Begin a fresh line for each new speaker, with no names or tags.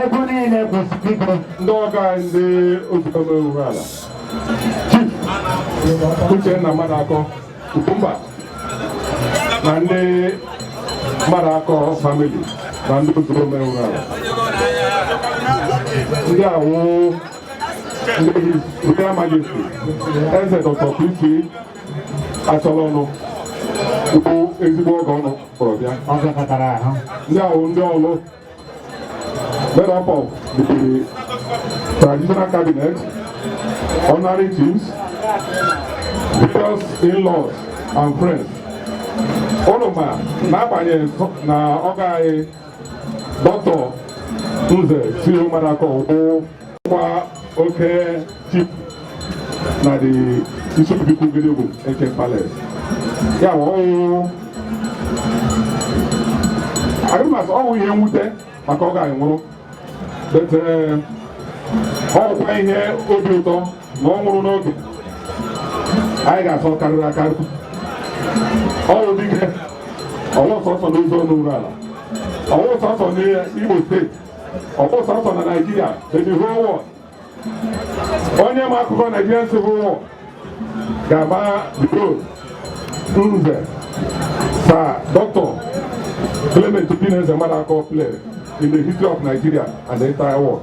ego niile bụ spikọ ndị ọga ndị Ozuomee Urualla chief Uchenna Maduakọ mba na ndị Maduakọ famili na ndị Ozuomee Urualla ndị awụ Royal Majesty Eze Dr. P.C. Achọlọnụ bụ ezigbo ọgọ ụnụ kpọrọ bịa ndị a wụ ndị Ọlụ made up of the traditional cabinet honorary chiefs various in-laws and friends ụnụ ma n'agbanyeghị na ọga anyị dọkịta nze sa Maduakọ wụkwa oke chief na the Isiobiukwu Gedegwum eke palace ya bụ ọ wụrụ anyị ma sị ọ wụ ihe mwute maka ọga anyị nwụrụ but ọ wụkwa ihe obi ụtọ na ọ nwụrụ n'oge anyị ga-asị ọ karịrị akarị ọ wụ dike ọwụ sọsọ n'Ozu n'Urualla ọwụ sọsọ n'Imo steeti ọwụ sọsọ na Naịjirịa eji ihe ọ wụ onye ma akụkọ Naịjirịa si ihe ọ wụ ga-ama role nze sa dọkịta Clement Obineze Maduakọ play in the history of Nigeria and the entire world.